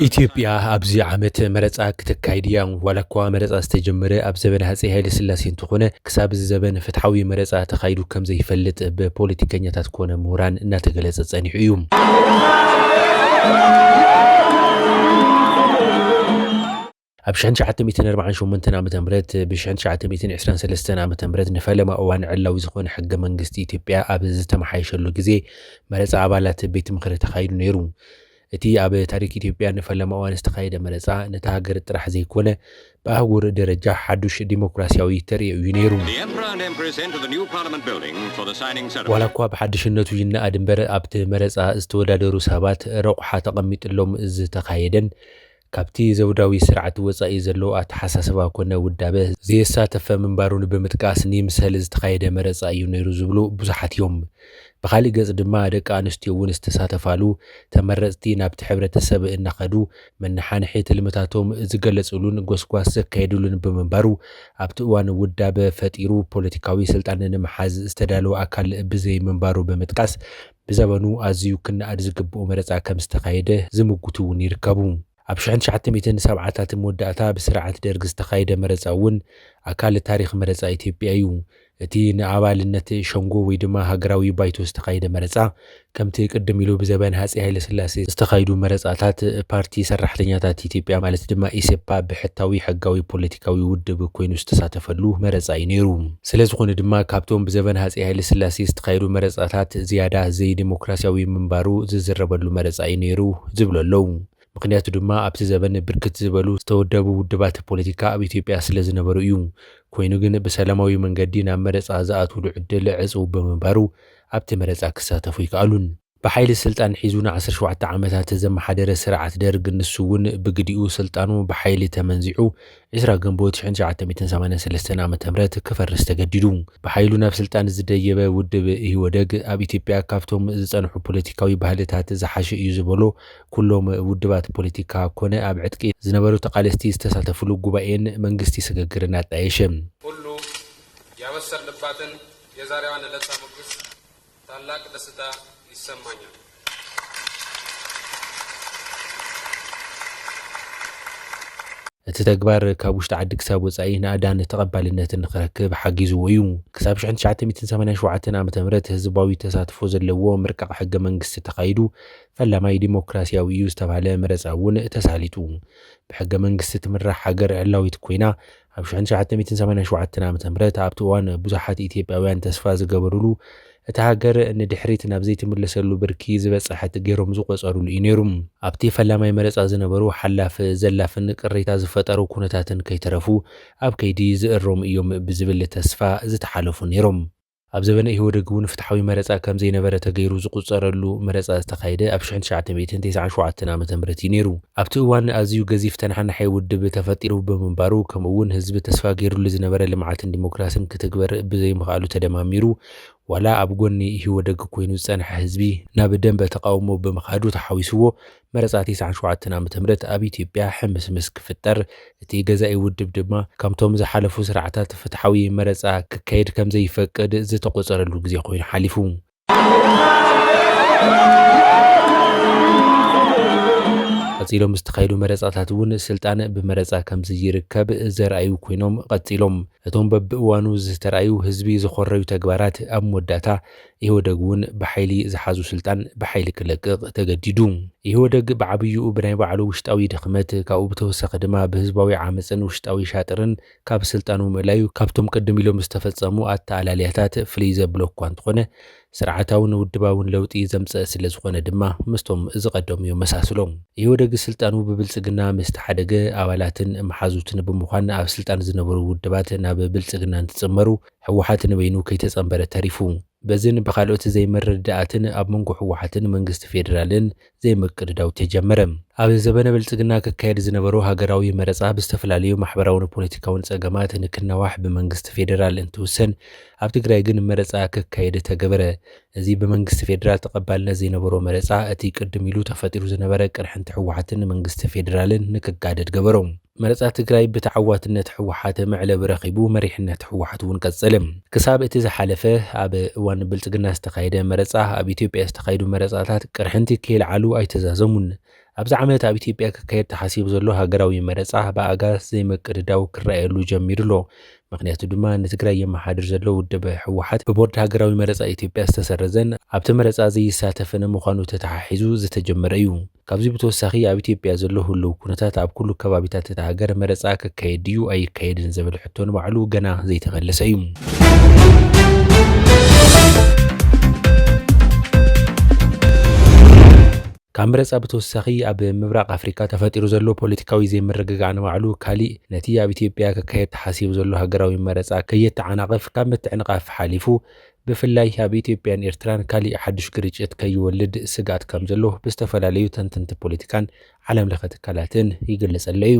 ኢትዮጵያ ኣብዚ ዓመት መረፃ ክተካይድ እያ ዋላ እኳ መረፃ ዝተጀመረ ኣብ ዘበን ሃፀይ ሃይለስላሴ እንትኾነ ክሳብ እዚ ዘበን ፍትሓዊ መረፃ ተኻይዱ ከም ዘይፈልጥ ብፖለቲከኛታት ኮነ ምሁራን እናተገለፀ ፀኒሑ እዩ። ኣብ ሽሕን ትሽዓተ ሚእትን ኣርባዓን ሸሞንተን ዓመተ ምህረት ብሽሕን ትሽዓተ ሚእትን ዕስራን ሰለስተን ዓመተ ምህረት ንፈለማ እዋን ዕላዊ ዝኾነ ሕገ መንግስቲ ኢትዮጵያ ኣብ ዝተመሓየሸሉ ግዜ መረፃ ኣባላት ቤት ምኽሪ ተኻይዱ ነይሩ። እቲ ኣብ ታሪክ ኢትዮጵያ ንፈለማ እዋን ዝተኻየደ መረፃ ነታ ሃገር ጥራሕ ዘይኮነ ብኣህጉር ደረጃ ሓዱሽ ዲሞክራሲያዊ ተርእዮ እዩ ነይሩ። ዋላ እኳ ብሓድሽነቱ ይነኣድ እምበር ኣብቲ መረፃ ዝተወዳደሩ ሰባት ረቑሓ ተቐሚጥሎም ዝተኻየደን ካብቲ ዘውዳዊ ስርዓት ወጻኢ ዘሎ ኣተሓሳስባ ኮነ ውዳበ ዘየሳተፈ ምንባሩ ንብምጥቃስ ንይምሰል ዝተኻየደ መረጻ እዩ ነይሩ ዝብሉ ብዙሓት እዮም። ብኻሊእ ገጽ ድማ ደቂ ኣንስትዮ እውን ዝተሳተፋሉ፣ ተመረጽቲ ናብቲ ሕብረተሰብ እናኸዱ መነሓንሒ ትልምታቶም ዝገለጽሉን ጎስጓስ ዘካየድሉን ብምንባሩ ኣብቲ እዋን ውዳበ ፈጢሩ ፖለቲካዊ ስልጣን ንምሓዝ ዝተዳለወ ኣካል ብዘይምንባሩ ብምጥቃስ ብዘበኑ ኣዝዩ ክነኣድ ዝግብኦ መረጻ ከም ዝተኻየደ ዝምጉቱ እውን ይርከቡ። ኣብ ሽሕን ትሽዓተ ሚእትን ሰብዓታትን መወዳእታ ብስርዓት ደርግ ዝተኻየደ መረጻ እውን ኣካል ታሪኽ መረጻ ኢትዮጵያ እዩ። እቲ ንኣባልነት ሸንጎ ወይ ድማ ሃገራዊ ባይቶ ዝተኻየደ መረጻ ከምቲ ቅድም ኢሉ ብዘበን ሃጼ ሃይለስላሴ ዝተኻይዱ መረጻታት ፓርቲ ሰራሕተኛታት ኢትዮጵያ ማለት ድማ ኢሰፓ ብሕታዊ ሕጋዊ ፖለቲካዊ ውድብ ኮይኑ ዝተሳተፈሉ መረጻ እዩ ነይሩ። ስለዝኾነ ድማ ካብቶም ብዘበን ሃፀይ ሃይለስላሴ ዝተኻየዱ መረፃታት ዝያዳ ዘይዴሞክራሲያዊ ምንባሩ ዝዝረበሉ መረፃ እዩ ነይሩ ዝብሉ ኣለው። ምኽንያቱ ድማ ኣብቲ ዘበን ብርክት ዝበሉ ዝተወደቡ ውድባት ፖለቲካ ኣብ ኢትዮጵያ ስለዝነበሩ እዩ። ኮይኑ ግን ብሰላማዊ መንገዲ ናብ መረፃ ዝኣትውሉ ዕድል ዕፁው ብምንባሩ ኣብቲ መረፃ ክሳተፉ ኣይከኣሉን። ብሓይሊ ስልጣን ሒዙ ንዓሰርተ ሸውዓተ ዓመታት ዘመሓደረ ስርዓት ደርግ ንሱ እውን ብግዲኡ ስልጣኑ ብሓይሊ ተመንዚዑ ዕስራ ግንቦት ሽሕን ትሽዓተ ሚእትን ሰማንያን ሰለስተን ዓመተ ምህረት ክፈርስ ተገዲዱ። ብሓይሉ ናብ ስልጣን ዝደየበ ውድብ ኢህወደግ ኣብ ኢትዮጵያ ካብቶም ዝፀንሑ ፖለቲካዊ ባህልታት ዝሓሸ እዩ ዝበሎ ኩሎም ውድባት ፖለቲካ ኮነ ኣብ ዕጥቂ ዝነበሩ ተቓለስቲ ዝተሳተፍሉ ጉባኤን መንግስቲ ስግግርን ኣጣየሸ። ኩሉ ያበሰር ልባትን የዛሬዋ ንለጻ ሙግስ። ታላቅ ደስታ ይሰማኛል። እቲ ተግባር ካብ ውሽጢ ዓዲ ክሳብ ወጻኢ ናእዳን ተቐባልነትን ንኽረክብ ሓጊዝዎ እዩ። ክሳብ ሽሕን ትሽዓተ ሚእትን ሰማንያን ሸውዓተን ዓመተ ምህረት ህዝባዊ ተሳትፎ ዘለዎ ምርቃቕ ሕገ መንግስቲ ተኻይዱ፣ ፈላማይ ዲሞክራሲያዊ እዩ ዝተባህለ መረጻ እውን ተሳሊጡ። ብሕገ መንግስቲ ትምራሕ ሃገር ዕላዊት ኮይና፣ ኣብ ሽሕን ትሽዓተ ሚእትን ሰማንያን ሸውዓተን ዓመተ ምህረት ኣብቲ እዋን ብዙሓት ኢትዮጵያውያን ተስፋ ዝገበሩሉ እታ ሃገር ንድሕሪት ናብ ዘይትምለሰሉ ብርኪ ዝበፀሐት ገይሮም ዝቖፀሩሉ እዩ ነይሩ። ኣብቲ ፈላማይ መረፃ ዝነበሩ ሓላፍ ዘላፍን ቅሬታ ዝፈጠሩ ኩነታትን ከይተረፉ ኣብ ከይዲ ዝእረሙ እዮም ብዝብል ተስፋ ዝተሓለፉ ነይሮም። ኣብ ዘበነ ኢህወደግ እውን ፍትሓዊ መረፃ ከም ዘይነበረ ተገይሩ ዝቑፀረሉ መረፃ ዝተኻየደ ኣብ ሽሕን ትሽዓተ ሚእትን ተስዓን ሸውዓተን ዓመተ ምህረት እዩ ነይሩ። ኣብቲ እዋን ኣዝዩ ገዚፍ ተነሓናሒ ውድብ ተፈጢሩ ብምንባሩ ከምኡ እውን ህዝቢ ተስፋ ገይሩሉ ዝነበረ ልምዓትን ዲሞክራስን ክትግበር ብዘይምኽኣሉ ተደማሚሩ ዋላ ኣብ ጎኒ ኢህወደግ ኮይኑ ዝፀንሐ ህዝቢ ናብ ደንበ ተቓውሞ ብምኻዱ ተሓዊስዎ መረጻ ቲስዓን ሸውዓተን ዓመተ ምህረት ኣብ ኢትዮጵያ ሕምስምስ ክፍጠር፣ እቲ ገዛኢ ውድብ ድማ ከምቶም ዝሓለፉ ስርዓታት ፍትሓዊ መረጻ ክካየድ ከምዘይፈቅድ ዝተቖጸረሉ ግዜ ኮይኑ ሓሊፉ። ቀጺሎም ዝተኻየዱ መረጻታት እውን ስልጣን ብመረጻ ከምዝይርከብ ዘርኣዩ ኮይኖም ቐጺሎም። እቶም በብእዋኑ ዝተርኣዩ ህዝቢ ዝኾረዩ ተግባራት ኣብ መወዳእታ ኢህወደግ እውን ብሓይሊ ዝሓዙ ስልጣን ብሓይሊ ክለቅቕ ተገዲዱ። ኢህወደግ ብዓብይኡ ብናይ ባዕሉ ውሽጣዊ ድኽመት ካብኡ ብተወሳኺ ድማ ብህዝባዊ ዓመፅን ውሽጣዊ ሻጥርን ካብ ስልጣኑ ምእላዩ ካብቶም ቅድም ኢሎም ዝተፈፀሙ ኣተኣላልያታት ፍልይ ዘብሎ እኳ እንተኾነ ስርዓታውን ውድባውን ለውጢ ዘምፀእ ስለዝኾነ ድማ ምስቶም ዝቐደሙ የመሳስሎ። ኢህወደግ ስልጣኑ ብብልፅግና ምስ ተሓደገ ኣባላትን መሓዙትን ብምዃን ኣብ ስልጣን ዝነበሩ ውድባት ናብ ብልፅግና እንትፅመሩ፣ ህወሓት ንበይኑ ከይተፀምበረ ተሪፉ። በዚን ብኻልኦት ዘይምርድዳኣትን ኣብ መንጎ ህወሓትን መንግስቲ ፌዴራልን ዘይምቅድዳው ተጀመረ። ኣብ ዘበነ ብልፅግና ክካየድ ዝነበሮ ሃገራዊ መረፃ ብዝተፈላለዩ ማሕበራውን ፖለቲካውን ፀገማት ንክናዋሕ ብመንግስቲ ፌዴራል እንትውሰን ኣብ ትግራይ ግን መረፃ ክካየድ ተገበረ። እዚ ብመንግስቲ ፌዴራል ተቐባልነት ዘይነበሮ መረፃ እቲ ቅድም ኢሉ ተፈጢሩ ዝነበረ ቅርሕንቲ ህወሓትን መንግስቲ ፌዴራልን ንክጋደድ ገበሮ። መረፃ ትግራይ ብተዓዋትነት ህወሓት መዕለቢ ረኺቡ መሪሕነት ህወሓት እውን ቀፀለ። ክሳብ እቲ ዝሓለፈ ኣብ እዋን ብልፅግና ዝተኻየደ መረፃ ኣብ ኢትዮጵያ ዝተኻየዱ መረፃታት ቅርሕንቲ ከይልዓሉ ኣይተዛዘሙን። ኣብዚ ዓመት ኣብ ኢትዮጵያ ክካየድ ተሓሲቡ ዘሎ ሃገራዊ መረፃ ብኣጋር ዘይምቅድዳው ክረኣየሉ ጀሚሩ ኣሎ። ምኽንያቱ ድማ ንትግራይ የመሓድር ዘሎ ውድብ ህወሓት ብቦርድ ሃገራዊ መረፃ ኢትዮጵያ ዝተሰረዘን ኣብቲ መረፃ ዘይሳተፍን ምዃኑ ተተሓሒዙ ዝተጀመረ እዩ። ካብዚ ብተወሳኺ ኣብ ኢትዮጵያ ዘሎ ህሉው ኩነታት ኣብ ኩሉ ከባቢታት እታ ሃገር መረፃ ክካየድ ድዩ ኣይካየድን ዝብል ሕቶ ንባዕሉ ገና ዘይተመለሰ እዩ። ካብ መረፃ ብተወሳኺ ኣብ ምብራቕ ኣፍሪካ ተፈጢሩ ዘሎ ፖለቲካዊ ዘይምርግጋዕ ንባዕሉ ካሊእ ነቲ ኣብ ኢትዮጵያ ክካየድ ተሓሲቡ ዘሎ ሃገራዊ መረፃ ከየተዓናቕፍ ካብ ምትዕንቓፍ ሓሊፉ ብፍላይ ኣብ ኢትዮጵያን ኤርትራን ካሊእ ሓዱሽ ግርጭት ከይወልድ ስግኣት ከምዘሎ ብዝተፈላለዩ ተንተንቲ ፖለቲካን ዓለም ለኸ ትካላትን ይግለፅ ኣሎ እዩ።